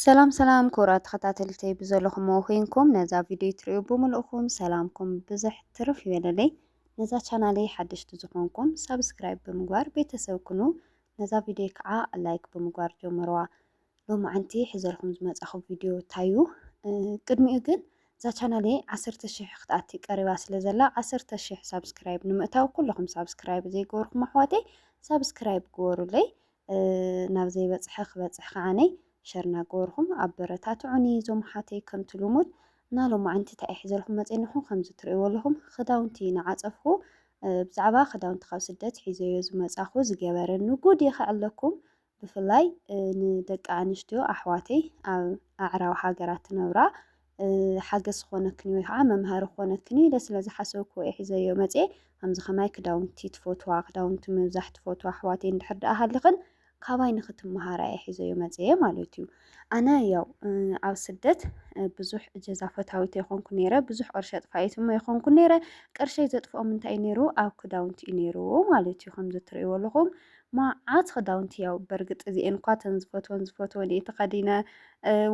ሰላም ሰላም ክቡራት ተኸታተልተይ ብዘለኹምዎ ኮይንኩም ነዛ ቪድዮ ትርእዩ ብምልእኹም ሰላምኩም ብዝሕ ትርፍ ይበለለይ። ነዛ ቻናለይ ሓደሽቲ ዝኾንኩም ሳብስክራይብ ብምግባር ቤተሰብ ኩኑ። ነዛ ቪድዮ ከዓ ላይክ ብምግባር ጀምርዋ። ሎማዓንቲ ሕዘልኩም ዝመጻኹ ቪድዮ ታዩ ቅድሚኡ ግን እዛ ቻናለይ ዓሰርተ ሽሕ ክትኣቲ ቀሪባ ስለ ዘላ ዓሰርተ ሽሕ ሳብስክራይብ ንምእታው ኩለኹም ሳብስክራይብ ዘይገበርኩም ኣሕዋተይ ሳብስክራይብ ግበሩለይ ናብ ዘይበጽሐ ክበጽሕ ከዓነ ሸር ናገበርኹም ኣበረታትዑኒ ዞም ኣሓተይ ከምቲ ሉሙድ እና ሎማዓንቲ እንታይ እየ ሒዘልኩም መጽየ ንሕኩም ከምዚ ትርእይዎ ኣለኹም ክዳውንቲ ናዓጸፍኩ ብዛዕባ ክዳውንቲ ካብ ስደት ሒዘዮ ዝመጻኹ ዝገበረኒ ጉድ የኸዕለኩም ብፍላይ ንደቂ ኣንስትዮ ኣሕዋተይ ኣብ ኣዕራብ ሃገራት ትነብራ ሓገዝ ክኾነክኒ ወይ ከዓ መምሃሪ ክኾነክኒ ኢለ ስለ ዝሓሰብክዎ እየ ሒዘዮ መፅኤ። ከምዚ ከማይ ክዳውንቲ ትፈትዋ፣ ክዳውንቲ ምብዛሕ ትፈትዋ ኣሕዋተይ እንድሕር ደኣ ሃሊኽን ካባይ ንክትመሃራ እየ ሒዘዮ መፅኤ ማለት እዩ። ኣነ ያው ኣብ ስደት ብዙሕ እጀዛ ፈታዊት ኣይኮንኩ ነይረ፣ ብዙሕ ቅርሺ ኣጥፋኢት እሞ ኣይኮንኩ ነይረ። ቅርሸይ ዘጥፍኦም እንታይ እዩ ነይሩ ኣብ ክዳውንቲ እዩ ነይሩ ማለት እዩ። ከምዚ እትርእይዎ ኣለኹም መዓት ክዳውንቲ ያው በርግጥ እዚኤን እኳ ተን ዝፈትወን ዝፈትወን እየ ተኸዲነ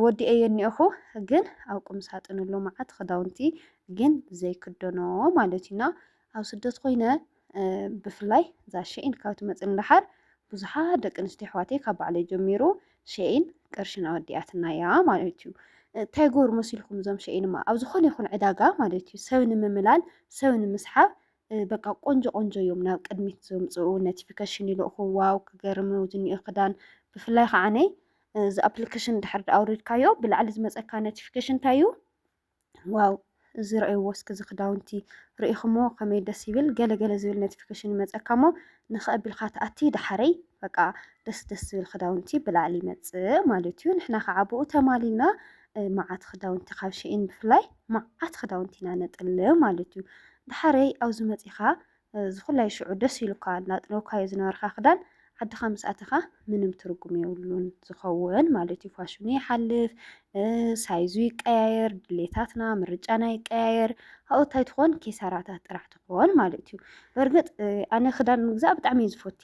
ወዲኤየ እኒኦኹ ግን ኣብ ቁም ሳጥን ኣሎ መዓት ክዳውንቲ ግን ዘይክደኖ ማለት እዩና ኣብ ስደት ኮይነ ብፍላይ እዛ ሸኢን ካብ ትመፅን ደሓር ብዙሓት ደቂ ኣንስትዮ ኣሕዋተይ ካብ ባዕለይ ጀሚሩ ሸኢን ቅርሽን ኣወዲኣትና እያ ማለት እዩ እንታይ ጎር መሲልኩም እዞም ሸኢንማ ኣብ ዝኾነ ይኹን ዕዳጋ ማለት እዩ ሰብ ንምምላል ሰብ ንምስሓብ በቃ ቆንጆ ቆንጆ እዮም ናብ ቅድሚት ዘምፅኡ ኖቲፊኬሽን ይልእኹ ዋው ክገርም ዝኒኦ ክዳን ብፍላይ ከዓ ነይ እዚ ኣፕሊኬሽን ድሕር ኣውሪድካዮ ብላዕሊ ዝመፀካ ኖቲፊኬሽን እንታይ እዩ ዋው እዚ ረእይዎ እስኪ እዚ ክዳውንቲ ርኢኹሞ ከመይ ደስ ይብል ገለገለ ዝብል ኖቲፊኬሽን ይመፀካ እሞ ንኸቢልካ ተኣቲ ደሓረይ በቃ ደስ ደስ ዝብል ክዳውንቲ ብላዕሊ ይመፅእ ማለት እዩ። ንሕና ከዓ ብኡ ተማሊና መዓት ክዳውንቲ ካብ ሸኢን ብፍላይ መዓት ክዳውንቲ ኢና ነጥል ማለት እዩ። ድሓረይ ኣብዚ መፂኻ ዝኩላይ ሽዑ ደስ ኢሉካ እናጥለውካዮ ዝነበርካ ክዳን ዓድኻ ምስ ኣተኻ ምንም ትርጉም የብሉን ዝኸውን ማለት እዩ። ፋሽኑ ይሓልፍ፣ ሳይዙ ይቀያየር፣ ድሌታትና ምርጫና ይቀያየር፣ ኣብኡ እንታይ ትኾን ኪሳራታት ጥራሕ ኦል ማለት እዩ በርግጥ ኣነ ክዳን ምግዛእ ብጣዕሚ እዩ ዝፈቲ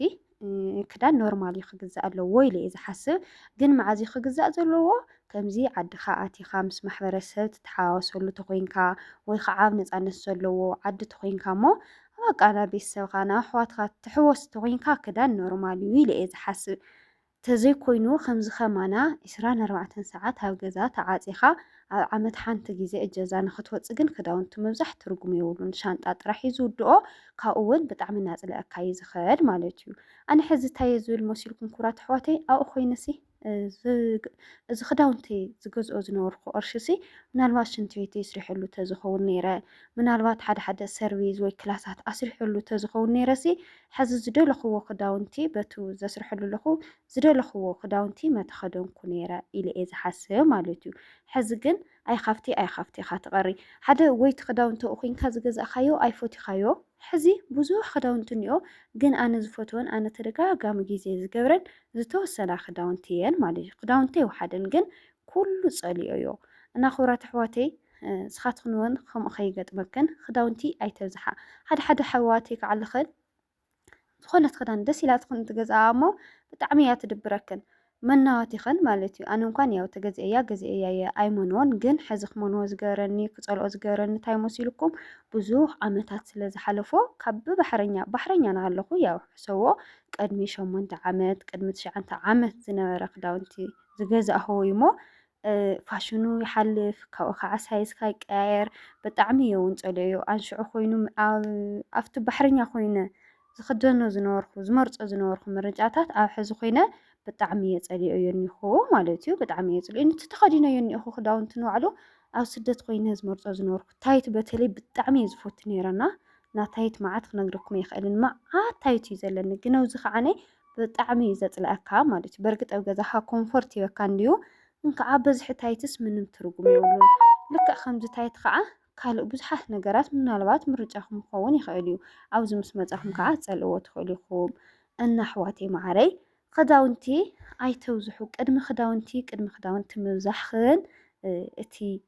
ክዳን ኖርማል እዩ ክግዛእ ኣለዎ ኢለ እየ ዝሓስብ ግን መዓዝ እዩ ክግዛእ ዘለዎ ከምዚ ዓድኻ ኣቲኻ ምስ ማሕበረሰብ ትተሓዋወሰሉ ተኮይንካ ወይ ከዓ ኣብ ነፃነት ዘለዎ ዓዲ ተኮይንካ እሞ በቃ ናብ ቤተሰብካ ናብ ኣሕዋትካ ትሕወስ ተኮይንካ ክዳን ኖርማል እዩ ኢለ እየ ዝሓስብ ተዘይኮይኑ ከምዚ ከማና ዕስራን ኣርባዕተን ሰዓት ኣብ ገዛ ተዓጺኻ ኣብ ዓመት ሓንቲ ግዜ እጀዛ ንክትወጽእ ግን ክዳውንቲ ምብዛሕ ትርጉም የብሉን ሻንጣ ጥራሕ እዩ ዝውድኦ ካብኡ ውን ብጣዕሚ ናጽለኣካ እዩ ዝኸድ ማለት እዩ ኣነ ሕዚ እንታይ እየ ዝብል መሲልኩም ኩብራት ኣሕዋተይ ኣብኡ ኮይነሲ እዚ ክዳውንተይ ዝገዝኦ ዝነበርኩ ቅርሽሲ ምናልባት ሽንቲ ቤተይ ስሪሐሉ ተዝኸውን ነይረ ምናልባት ሓደ ሓደ ሰርቪዝ ወይ ክላሳት ኣስሪሐሉ ተዝኸውን ነይረሲ ሐዚ ዝደለኹዎ ክዳውንቲ በቱ ዘስርሐሉ ኣለኹ ዝደለኹዎ ክዳውንቲ መተኸደንኩ ነይረ ኢለ እየ ዝሓስብ ማለት እዩ ሐዚ ግን ኣይኻፍቲ ኣይኻፍቲ ኢኻ ትቐሪ ሓደ ወይቲ ክዳውንቲ እኹንካ ዝገዛእካዮ ኣይፎቲኻዮ ሐዚ ብዙሕ ክዳውንቲ እኒኦ ግን ኣነ ዝፈትወን ኣነ ተደጋጋሚ ግዜ ዝገብረን ዝተወሰና ክዳውንቲ እየን ማለት እዩ ክዳውንቲ ይውሓደን ግን ኩሉ ፀሊኦዮ እና ክብራት ኣሕዋተይ ንስኻትክን ውን ከምኡ ከይገጥመክን ክዳውንቲ ኣይተብዝሓ ሓደ ሓደ ኣሕዋተይ ክዓልኽን ዝኾነት ክዳን ደስ ኢላትክን ትገዝኣ እሞ ብጣዕሚ እያ ትድብረክን መናዋቲኽን ማለት እዩ ኣነ እንኳን ያው ተገዚአያ ገዚአያ እየ ኣይመንዎን ግን ሕዚ ክመንዎ ዝገበረኒ ክፀልኦ ዝገበረኒ እንታይ መሲልኩም ብዙሕ ዓመታት ስለ ዝሓለፎ ካብ ብባሕረኛ ባሕረኛ ናሃለኹ ያው ሕሰዎ ቅድሚ ሸሞንተ ዓመት ቅድሚ ትሽዓንተ ዓመት ዝነበረ ክዳውንቲ ዝገዛእኹ እዩሞ ፋሽኑ ይሓልፍ ካብኡ ከዓ ሳይዝካ ይቀያየር ብጣዕሚ እየ እውን ፀልኦዮ ኣንሽዑ ኮይኑ ኣብቲ ባሕረኛ ኮይነ ዝክደኖ ዝነበርኩ ዝመርፆ ዝነበርኩ ምርጫታት ኣብ ሕዚ ኮይነ ብጣዕሚ እየ ፀልኦዮ እኒኹ ማለት እዩ ብጣዕሚ እየ ፅልኦ እቲ ተኸዲነዮ እኒኹ ክዳውንቲ ንባዕሉ ኣብ ስደት ኮይነ ዝመርፆ ዝነበርኩ ታይት በተለይ ብጣዕሚ እየ ዝፈቱ ነይረና ናታይት መዓት ክነግረኩም ኣይክእልን መዓት ታይት እዩ ዘለኒ ግን ኣብዚ ከዓነ ብጣዕሚ እዩ ዘጽልኣካ ማለት እዩ በርግጥ ኣብ ገዛካ ኮንፎርት ይበካ እንድዩ እንካዓ በዝሒ ታይትስ ምንም ትርጉም የብሉን ልክዕ ከምዚ ታይት ከዓ ካልእ ብዙሓት ነገራት ምናልባት ምርጫኩም ክኸውን ይኽእል እዩ ኣብዚ ምስ መጻኩም ከዓ ትጸልእዎ ትኽእሉ ኢኹም እና ኣሕዋተይ መዓረይ ክዳውንቲ ኣይተብዝሑ ቅድሚ ክዳውንቲ ቅድሚ ክዳውንቲ ምብዛሕክን እቲ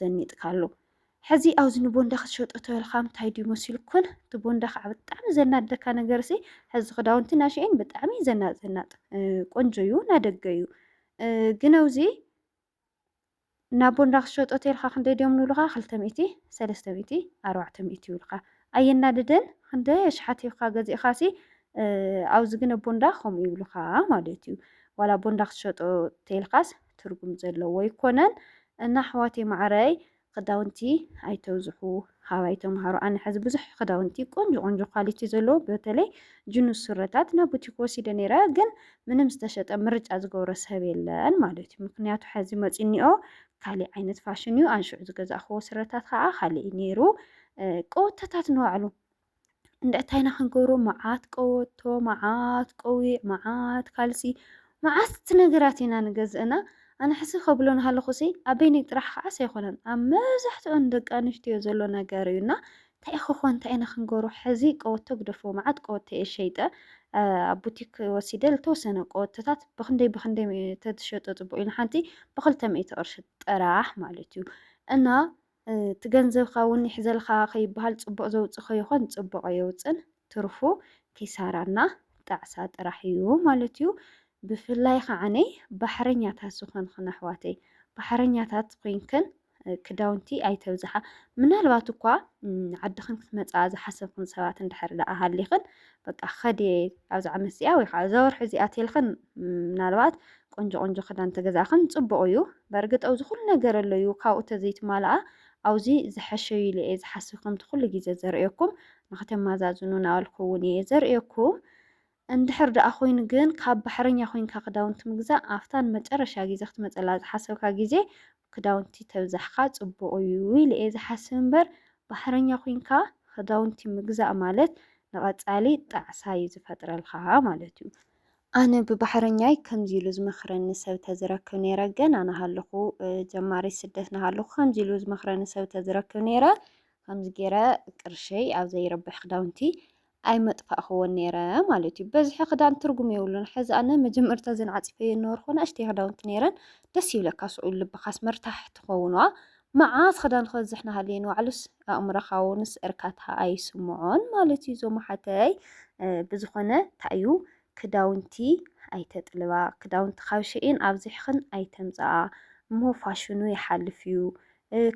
ዘኒጥካሉ ሕዚ ኣብዚ ንቦንዳ ክትሸጦ ተበልካ እንታይ ድዩ መሲልኩን እቲ ቦንዳ ከዓ ብጣዕሚ ዘናደካ ነገር ሲ ሕዚ ክዳውንቲ ናሸኤን ብጣዕሚ ዘናጥ ዘናጥ ቆንጆ እዩ ናደገ እዩ ግን ኣብዚ ናብ ቦንዳ ክትሸጦ ተልካ ክንደይ ድዮም ንብሉካ ክልተ ሚእቲ ሰለስተ ሚእቲ ኣርባዕተ ሚእቲ ይብሉካ ኣየናድደን ክንደይ ኣሽሓት ሂብካ ገዚእካ ሲ ኣብዚ ግን ቦንዳ ከምኡ ይብሉካ ማለት እዩ ዋላ ቦንዳ ክትሸጦ ተልካስ ትርጉም ዘለዎ ኣይኮነን እና ኣሕዋተይ ማዓረይ ክዳውንቲ ኣይተብዝሑ ሃባይ ተምሃሩ ኣነ ሕዚ ብዙሕ ክዳውንቲ ቆንጆ ቆንጆ ኳሊቲ ዘለዎ በተለይ ጅኑስ ስረታት ናብ ቡቲክ ወሲደ ነይረ ግን ምንም ዝተሸጠ ምርጫ ዝገብሮ ሰብ የለን ማለት እዩ ምክንያቱ ሕዚ መፂኒኦ ካሊእ ዓይነት ፋሽን እዩ ኣንሽዑ ዝገዛእክዎ ስረታት ከዓ ካሊእ ነይሩ ቀወተታት ንባዕሉ እንታይና ክንገብሮ መዓት ቀበቶ፣ መዓት ቆቢዕ፣ መዓት ካልሲ፣ መዓት ነገራት ኢና ንገዝእ እና ኣነ ሕዚ ከብሎ እናሃለኹሲ ኣበይነይ ጥራሕ ከዓስ ኣይኮነን ኣብ መብዛሕትኦን ደቂ ኣንስትዮ ዘሎ ነገር እዩ እና እንታይ ክኾን እንታይ ኢና ክንገብሮ ሕዚ ቀበቶ ግደፎ መዓት ቀበቶ እየ ሸይጠ ኣብ ቡቲክ ወሲደ ዝተወሰነ ቀበቶታት ብክንደይ ብክንደይ ተትሸጦ ፅቡቅ እዩ ንሓንቲ ብክልተ ሚእቲ ቅርሺ ጥራሕ ማለት እዩ እና እቲ ገንዘብካ እውን ይሕዘልካ ከይበሃል ፅቡቕ ዘውፅእ ከይኾን ፅቡቕ ኣየውፅእን ትርፉ ኪሳራ እና ጣዕሳ ጥራሕ እዩ ማለት እዩ። ብፍላይ ኻዓኒ ባሕረኛታት ዝኾንኽን ኣሕዋተይ ባሕረኛታት ኮይንክን ክዳውንቲ ኣይተብዝሓ ምናልባት እኳ ዓድኽን ክትመፅኣ ዝሓሰብኽን ሰባት እንድሕር ደኣ ሃሊኽን በቃ ከድየ ኣብዚ ዓመት እዚኣ ወይ ከዓ እዛ ወርሒ እዚኣ ቴልክን ምናልባት ቆንጆ ቆንጆ ክዳን ተገዛእክን ፅቡቅ እዩ በእርግጥ ኣብዚ ኩሉ ነገር ኣሎ እዩ ካብኡ ተዘይትማልኣ ኣብዚ ዝሐሸ እዩ ኢለ እየ ዝሓስብ ከምቲ ኩሉ ግዜ ዘርእየኩም ንክተማዛዝኑ ናበልኩ እውን እየ ዘርእየኩም እንድሕር ደኣ ኮይኑ ግን ካብ ባሕረኛ ኮይንካ ክዳውንቲ ምግዛእ ኣብታን መጨረሻ ግዜ ክትመፀላ ዝሓሰብካ ግዜ ክዳውንቲ ተብዛሕካ ጽቡቅ እዩ ኢለ እየ ዝሓስብ እምበር ባሕረኛ ኮይንካ ክዳውንቲ ምግዛእ ማለት ንቀጻሊ ጣዕሳ እዩ ዝፈጥረልካ ማለት እዩ። ኣነ ብባሕረኛይ ከምዚ ኢሉ ዝመኽረኒ ሰብ ተዝረክብ ነይረ ገና ናሃለኹ ጀማሪት ስደት ናሃለኹ ከምዚ ኢሉ ዝመኽረኒ ሰብ ተዝረክብ ነይረ ከምዚ ገይረ ቅርሸይ ኣብ ዘይረብሕ ክዳውንቲ ኣይመጥፋእክዎን ነይረ ማለት እዩ። በዝሒ ክዳን ትርጉም የብሉን። ሕዚ ኣነ መጀመርታ እዘን ዓፂፈየን ነበርኩ ንእሽተይ ክዳውንቲ ነይረን ደስ ይብለካ ስዑ ልብኻስ መርታሕ ትኸውንዋ መዓት ክዳን ክበዝሕ ናሃለየ ንባዕሉስ ኣእምሮኻ ውንስ እርካታ ኣይስምዖን ማለት እዩ። ዞም ሓተይ ብዝኾነ ታእዩ ክዳውንቲ ኣይተጥልባ ክዳውንቲ ካብ ሽኢን ኣብዚሕኽን ኣይተምፀኣ እሞ ፋሽኑ ይሓልፍ እዩ።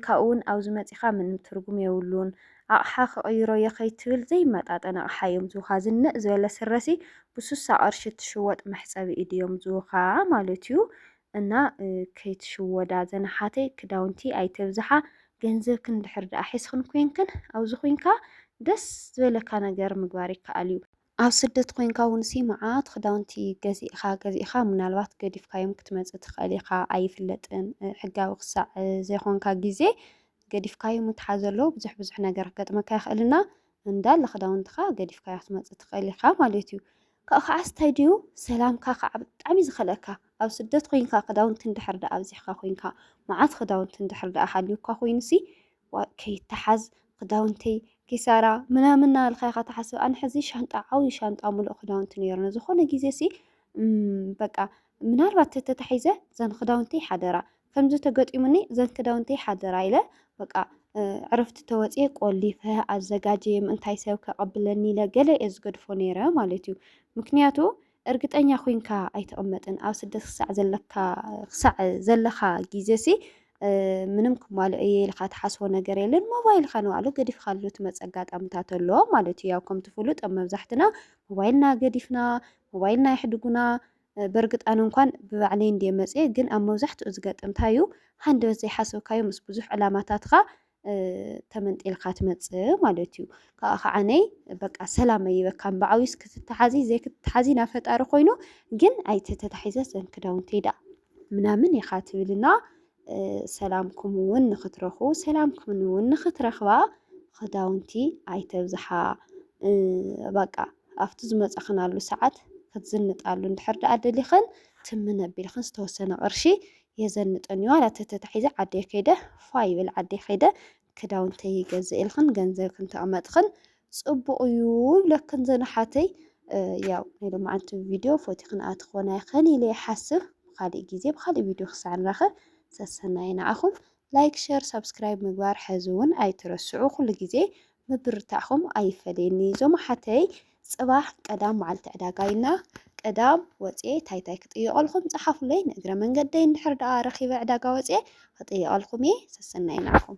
ካብኡ ውን ኣብዚ መጺኻ ምንም ትርጉም የብሉን ኣቕሓ ክቕይሮ እየ ከይትብል ዘይመጣጠን ኣቕሓ እዮም ዝቡኻ ዝንእ ዝበለ ስረሲ ብሱሳ ቐርሺ እትሽወጥ መሕጸቢ ኢድ እዮም ዝቡኻ ማለት እዩ እና ከይትሽወዳ ዘናሓተይ ክዳውንቲ ኣይተብዝሓ ገንዘብክን እንድሕር ደኣ ሒዝክን ኮንክን ኣብዚ ኩንካ ደስ ዝበለካ ነገር ምግባር ይከኣል እዩ። ኣብ ስደት ኮይንካ እውንሲ መዓት ክዳውንቲ ገዚእኻ ገዚእኻ ምናልባት ገዲፍካዮም ክትመጽእ ትኽእል ኢኻ ኣይፍለጥን ሕጋዊ ክሳዕ ዘይኮንካ ግዜ ገዲፍካዮ ምትሓዝ ኣሎ ብዙሕ ብዙሕ ነገር ክገጥመካ ይኽእልና እንዳለ ክዳውንትኻ ገዲፍካዮ ክትመጽእ ትኽእል ኢኻ ማለት እዩ ካብኡ ከዓ ስታይ ድዩ ሰላምካ ከዓ ብጣዕሚ ዝኸልአካ ኣብ ስደት ኮይንካ ክዳውንቲ እንድሕር ደኣ ኣብዚሕካ ኮይንካ መዓት ክዳውንቲ እንድሕር ደኣ ሃልዩካ ኮይኑሲ ዋእ ከይተሓዝ ክዳውንተይ ኪሳራ ምናምን እናበልካ ኢኻ ትሓስብ። ኣነ ሕዚ ሻንጣ ዓብዩ ሻንጣ ምሉእ ክዳውንቲ ነይሩኒ። ዝኾነ ግዜ ሲ በቃ ምናልባት ተተታሒዘ ዘን ክዳውንተይ ሓደራ ከምዚ ተገጢሙኒ ዘን ክዳውንተይ ሓደራ ኢለ በቃ ዕረፍቲ ተወፅየ ቆሊፈ ኣዘጋጀየ ምእንታይ ሰብ ከቐብለኒ ኢለ ገለ እየ ዝገድፎ ነይረ ማለት እዩ። ምክንያቱ እርግጠኛ ኩንካ ኣይትቅመጥን ኣብ ስደት ክሳዕ ዘለካ ክሳዕ ዘለካ ግዜሲ ምንም ክማልኦ እየ ኢልካ ትሓስቦ ነገር የለን። ሞባይልካ ንባዕሉ ገዲፍካሉ ትመፅ ኣጋጣምታት ኣሎ ማለት እዩ። ያው ከምቲ ፍሉጥ ኣብ መብዛሕትና ሞባይልና ገዲፍና ሞባይልና የሕድጉና በርግጥ ኣነ እንኳን ብባዕለይ እንድየ መፅየ ግን ኣብ መብዛሕትኡ ዝገጥም እንታይ እዩ ሃንደበት ዘይሓሰብካዮ ምስ ብዙሕ ዕላማታትካ ተመንጢልካ ትመጽእ ማለት እዩ። ካብኣ ከዓነይ በቃ ሰላም ኣይበካ እምበዓውስ ክትተሓዚ ዘይክትተሓዚ ናብ ፈጣሪ ኮይኑ ግን ኣይተተታሒዘ ዘን ክዳውንቲ ኢዳ ምናምን ኢኻ ትብልና ሰላምኩም እውን ንክትረኹ ሰላምኩም እውን ንክትረኽባ ክዳውንቲ ኣይተብዝሓ በቃ ኣብቲ ዝመጻኽናሉ ሰዓት ክትዝንጣሉ እንድሕር ደኣ ደሊኽን ትምነ ኣቢልኽን ዝተወሰነ ቅርሺ የዘንጠን እዩ ኣላ ተተታሒዘ ዓደይ ከይደ ፋይ ይብል ዓደይ ከይደ ክዳውንተይ ይገዝእልኽን ገንዘብ ክንተቕመጥኽን ፅቡቕ እዩ ይብለክን ዘንሓተይ ያው ናይ ሎማዓንቲ ቪድዮ ፎቲኽን ኣትኾና ይኽን ኢለ ይሓስብ ብካሊእ ግዜ ብካሊእ ቪድዮ ክሳዕ ንራኸብ ሰሰናይ ንዓኹም ላይክ ሸር ሳብስክራይብ ምግባር ሕዚ እውን ኣይትረስዑ ኩሉ ግዜ ምብርታዕኹም ኣይፈለየኒ ዞም ኣሓተይ ጽባሕ ቀዳም መዓልቲ ዕዳጋ ኢና ቀዳም ወጽየ ታይ ታይ ክጥይቀልኩም ጸሓፉለይ ንእግረ መንገደይ እንድሕር ደኣ ረኪበ ዕዳጋ ወጽየ ክጥይቀልኩም እየ ሰሰናዩ ንዓኹም።